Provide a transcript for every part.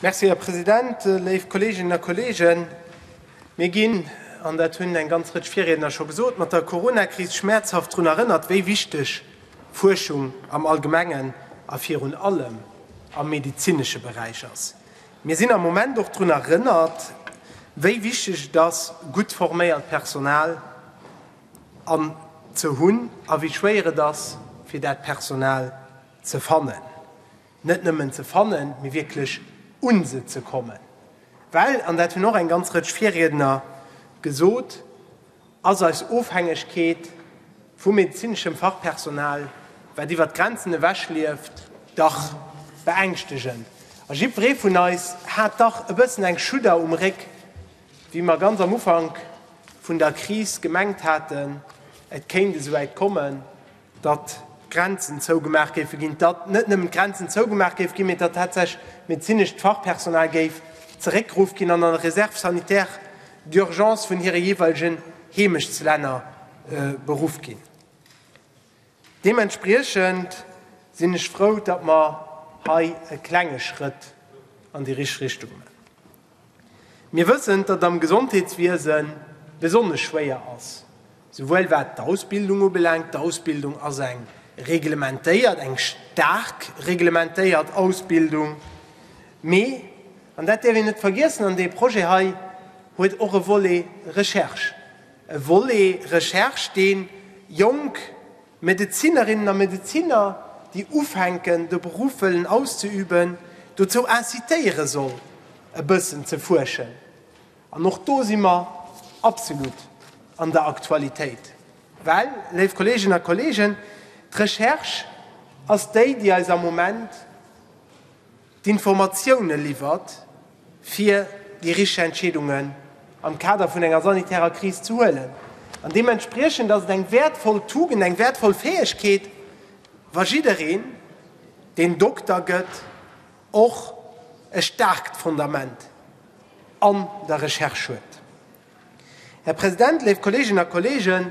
Merci, Här President. Léif Kolleeginnen a Kolleegen, mir ginn, an dat hunn eng ganz Rëtsch Virriedner scho gesot, mat der Corona-Kris schmäerzhaft drun erënnert, wéi wichteg Fuerschung am Allgemengen a virun allem am medezinesche Beräich ass. Mir sinn am Moment och drun erënnert, wéi wichteg et ass, gutt forméiert Personal ze hunn a wéi schwéier et ass, fir dat Personal ze fannen, net nëmmen ze fannen, mee wierklech un se ze kommen, well, an dat hunn och eng ganz Rëtsch Virriedner gesot, ass eis Ofhängegkeet vu medezineschem Fachpersonal, wat iwwert d'Grenzen ewech lieft, dach beängschtegend. A jiddweree vun eis hat dach e bëssen eng Schudder um Réck, wéi mer ganz am Ufank vun der Kris gemengt haten, et kéint esouwäit kommen. datt d'Grenzen zougemaach géife ginn, datt net nëmmen d'Grenzen zougemaach géife ginn, mee datt tatsächlech medezinescht Fachpersonal géif zeréckgeruff ginn an an de Réserve sanitaire d'urgence vun hire jeeweilegen Heemechtslänner beruff ginn. Deementspriechend sinn ech frou, datt mer hei e klenge Schrëtt an déi richteg Richtung maachen. Mir wëssen, datt et am Gesondheetswiese besonnesch schwéier ass, souwuel wat d'Ausbildung ubelaangt, d'Ausbildung ass eng reglementéiert, eng staark reglementéiert Ausbildung, mee, an dat däerf een net vergiessen, an dee Projet hei huet och e Volet Recherche, e Volet Recherche, dee jonk Medezinerinnen a Medeziner, déi ufänken, de Beruff wëllen auszeüben, dozou incitéiere soll, e bëssen ze fuerschen. An och do si mer absolut an der Aktualitéit. Well, léif Kolleeginnen a Kolleegen, d'Recherche ass déi, déi eis am Moment, d'Informatioune liwwert, fir déi richteg Entscheedungen am Kader vun enger sanitärer Kris ze huelen. An deementspriechend ass et eng wäertvoll Tugend, eng wäertvoll Fäegkeet, wa jiddereen, deen Dokter gëtt, och e staarkt Fondament an der Recherche huet. Här President, léif Kolleeginnen a Kolleegen,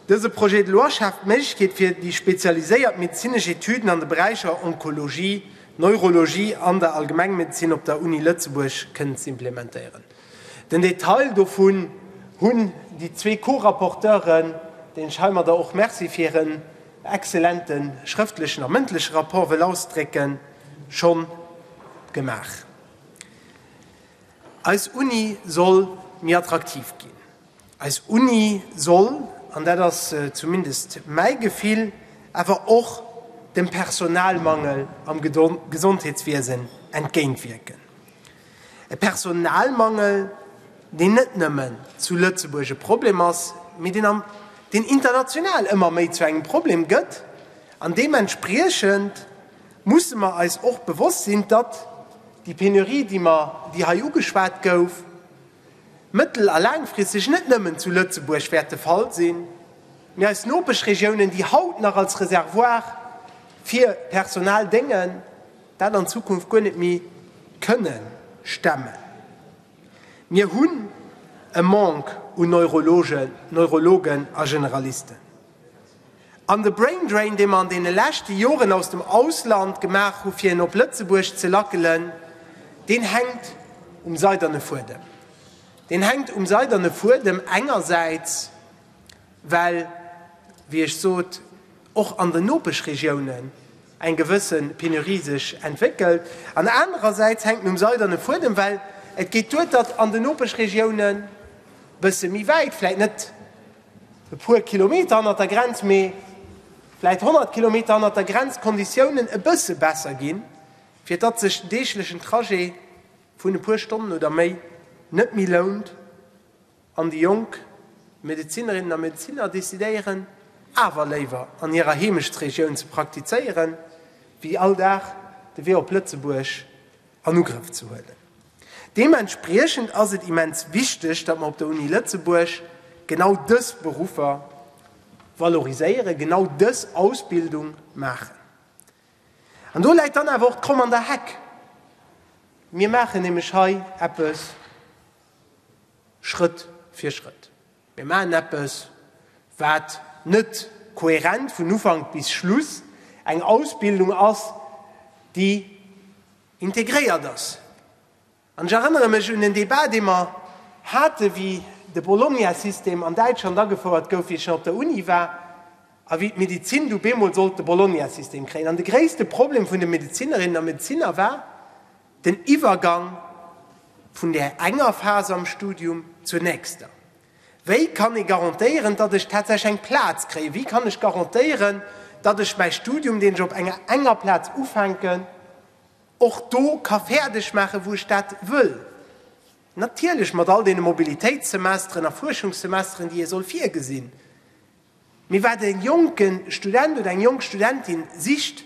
dëse Projet de loi schaaft d'Méiglechkeet fir déi spezialiséiert medezinesch Etüden an de Beräicher Onkologie, Neurologie an der Allgemengmedezin op der Uni Lëtzebuerg kënnen ze implementéieren. Den Detail dovun hunn déi zwee Co-Rapporteuren, deenen ech heimadder och Merci fir hiren exzellente schrëftlechen a mëndleche Rapport wëll ausdrécken, schonn gemaach. Eis Uni soll méi attraktiv ginn. Eis Uni soll, an dat ass zumindest mäi Gefill, awer och dem Personalmangel am Gesondheetswiesen entgéintwierken. E Personalmangel, deen net nëmme zu Lëtzebuerg e Problem ass, mee deen international ëmmer méi zu engem Problem gëtt an deementspriechend, musse mer eis och bewosst sinn, datt déi Penurie, déi mer, déi hei ugeschwat gouf, mëttel a laangfristeg net nëmmen zu Lëtzebuerg wäert de Fall sinn, mee eis Nopeschregiounen, déi haut nach als Reservoir fir Personal déngen, dat an Zukunft guer net méi kënne stemmen. Mir hunn e Manque u Neurologen, Neurologen a Generalisten. An de Braindrain, dee mer an deene leschte Joren aus dem Ausland gemaach hu fir en op Lëtzebuerg ze lackelen, deen hänkt um seiderne Fuedem. Deen hänkt um seiderne Fuedem engersäits, well, wéi ech sot, och an den Nopeschregiounen eng gewësse Penurie sech entwéckelt, an anerersäits hänkt en um seiderne Fuedem, well et geet duer, datt an den Nopeschregiounen e bësse méi wäit, vläicht net, e puer Kilometer hannert der Grenz, mee vläit 100 Kilometer hannert der Grenz, d'Konditiounen e bësse besser ginn, fir datt sech den deeglechen Trajet vun e puer Stonnen oder méi net méi lount an déi jonk Medezinerinnen a Medeziner decidéieren, awer léiwer an hirer Heemechtsregioun ze praktizéieren, wéi all Dag de Wee op Lëtzebuerg an Ugrëff ze huelen. Deementspriechend ass et immens wichteg, datt mer op der Uni Lëtzebuerg genau dës Beruffer valoriséieren, genau dës Ausbildung maachen. An do läit dann awer och d'Kromm an der Heck. Mir maachen nämlech hei eppes Schrëtt fir Schrëtt. Mir maachen eppes, wat net kohärent vun Ufank bis Schluss eng Ausbildung ass, déi integréiert ass. An ech erënnere mech un en Débat, dee mer haten, wéi de Bologna-System an Däitschland agefouert gouf, wéi ech nach op der Uni war, a wéi d'Medezin du beemol sollt de Bologna-System kréien. An de gréisste Problem vun de Medezinerinnen a Medeziner war, Den Iwwergang vun där enger Phas am Studium zur nächster. Wéi kann ee garantéieren, datt ech tatsächlech eng Plaz kréien? Wéi kann ech garantéieren, datt ech mäi Studium, deen ech op enger enger Plaz ufänken, och do ka fäerdeg maachen, wou ech dat wëll? Natierlech mat all deene Mobilitéitssemesteren a Fuerschungssemesteren, déi ee soll virgesinn. Mee wat e jonke Student oder eng jonk Studentin sicht,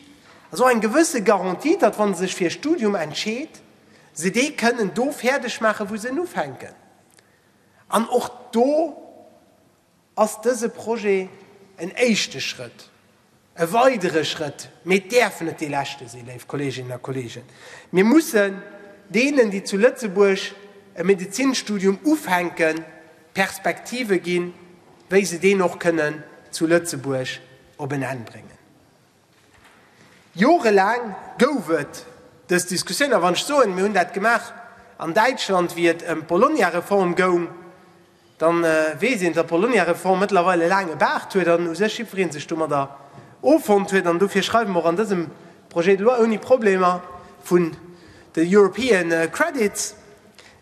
ass och eng gewësse Garantie, datt wa se sech fir e Studium entscheet, se dee kënnen do fäerdeg maachen, wou se en ufänken. An och do ass dëse Projet en éischte Schrëtt. E weidere Schrëtt, mee et däerf net dee leschte sinn, léif Kolleeginnen a Kolleegen, Mir mussen deenen, déi zu Lëtzebuerg e Medezinsstudium ufänken, Perspektive ginn, wéi se deen och kënnen zu Lëtzebuerg op en Enn bréngen. Jorelaang gouf et dës Diskussioun. A wann ech soen, mir hunn dat gemaach an Däitschland, wéi et ëm d'Bologna-Reform goung, Dann weess een, datt d'Bologna-Reform mëttlerweil e laange Baart huet an u sech jiddweree sech domadder offonnt huet. An dofir schreiwe mer och an dësem Projet de loi ouni Problemer vun de European Credits,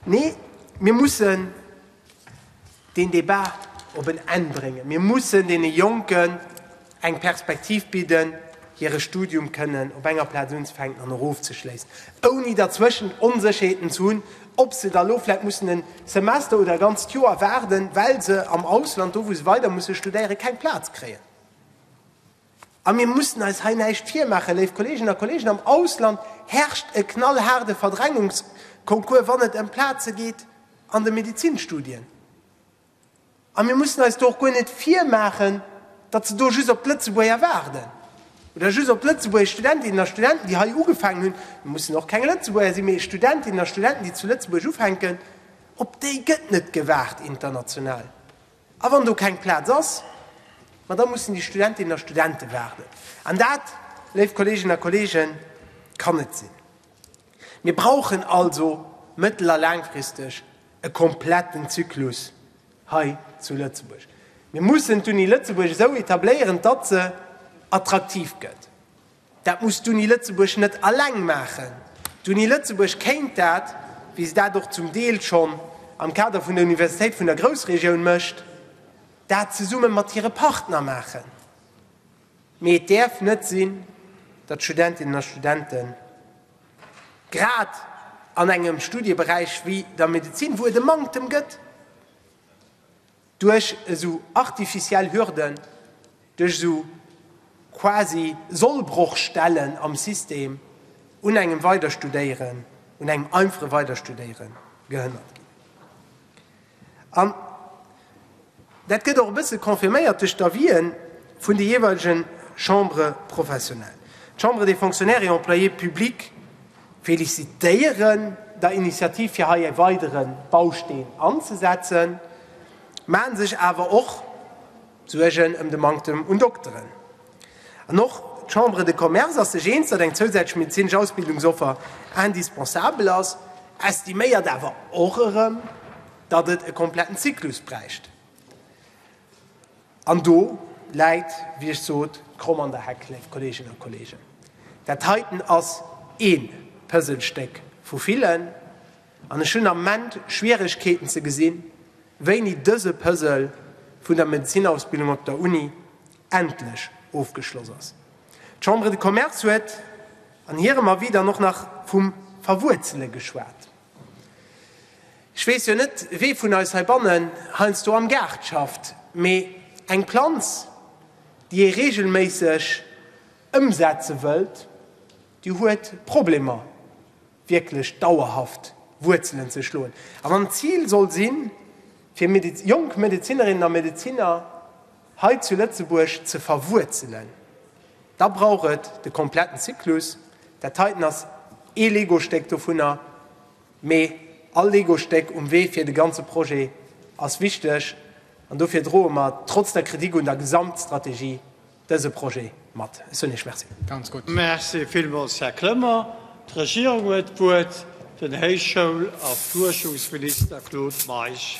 Nee, mir mussen deen Debat op en Enn bréngen. Mir mussen deene Jonken eng Perspektiv bidden, hire Studium kënnen op enger Plaz unzefänken an och ofzeschléissen, ouni derzwëschen Onsécherheeten ze hunn, ob se da elo vläicht mussen e Semester oder e ganzt Joer waarden, well se am Ausland, do wou se weider musse studéieren, keng Plaz kréien. A mir mussen eis hei näischt virmaachen, léif Kolleeginnen a Kolleegen, am Ausland herrscht e knallhaarde Verdrängungskoncours, wann et ëm Plaze geet an de Medizinstudien. A mir mussen eis do och guer net virmaachen, datt se do just op d'Lëtzebuerger waarden oder just op d'Lëtzebuerger Studentinnen a Studenten, déi hei ugefaangen hunn, et mussen och keng Lëtzebuerger sinn, mee Studentinnen a Studenten, déi zu Lëtzebuerg ufänken, op déi gëtt net gewaart international. A wann do keng Plaz ass, ma da mussen déi Studentinnen a Studente waarden. An dat, léif Kolleeginnen a Kolleegen, kann net sinn. Mir brauchen also mëttel a laangfristeg e kompletten Zyklus hei zu Lëtzebuerg. Mir mussen d'Uni Lëtzebuerg esou etabléieren, datt se attraktiv gëtt. Dat muss d'Uni Lëtzebuerg net alleng maachen. D'Uni Lëtzebuerg kéint dat, wéi se dat och zum Deel schonn am Kader vun der Universitéit vun der Groussregioun mécht, dat zesumme mat hire Partner maachen. Mee et däerf net sinn, datt Studentinnen a Studente grad an engem Studieberäich wéi der Medezin, wou et e Manktem gëtt, duerch esou artificiell Hürden, duerch esou quasi Sollbrochstellen am System un engem Weiderstudéieren, un engem einfache Weiderstudéiere gehënnert ginn. An dat gëtt och e bësse confirméiert duerch d'Avis'en vun de jeeweilege Chambres professionnelles. D'Chambre des fonctionnaires et employés publics felicitéieren der Initiativ fir hei e weidere Bausteen anzesetzen, maen sech awer och, D'Suergen ëm de Manktem un Dokteren an och d'Chambre de Commerce ass sech eens, datt eng zousätzlech medezinesch Ausbildungsoffer indispensabel ass, estiméiert awer och erëm, datt et e kompletten Zyklus bräicht. An do läit, wéi ech sot, d'Kromm an der Heck, léif Kolleeginnen a Kolleegen. Dat heiten ass ee Pëselstéck vu villen. An ech hunn am Ment Schwieregkeeten ze gesinn, wéini dëse Puzzle vun der Medezinnausbildung op der Uni endlech ofgeschloss ass. D'Chambre de Commerce huet an hirem Avis dann och nach vum Verwuerzele geschwat. Ech weess jo net, wee vun eis heibannen heiansdo am Gaart schafft, mee eng Planz, déi ee reegelméisseg ëmsetze wëllt, déi huet Problemer. wierklech dauerhaft Wuerzelen ze schloen a mam Zil soll sinn, fir jonk Medezinerinnen a Medeziner hei zu Lëtzebuerg ze verwuerzelen, da brauch et de kompletten Zyklus. Dat heiten ass ee Legostéck dovunner, mee all Legostéck um Wee fir de ganze Projet ass wichteg an dofir droe mer trotz der Kritik un der Gesamtstrategie dëse Projet mat. Ech soen Iech Merci. Merci villmools, Här Clement. D'Regierung huet d'Wuert, den Héichschoul a Fuerschungsminister Claude Meisch.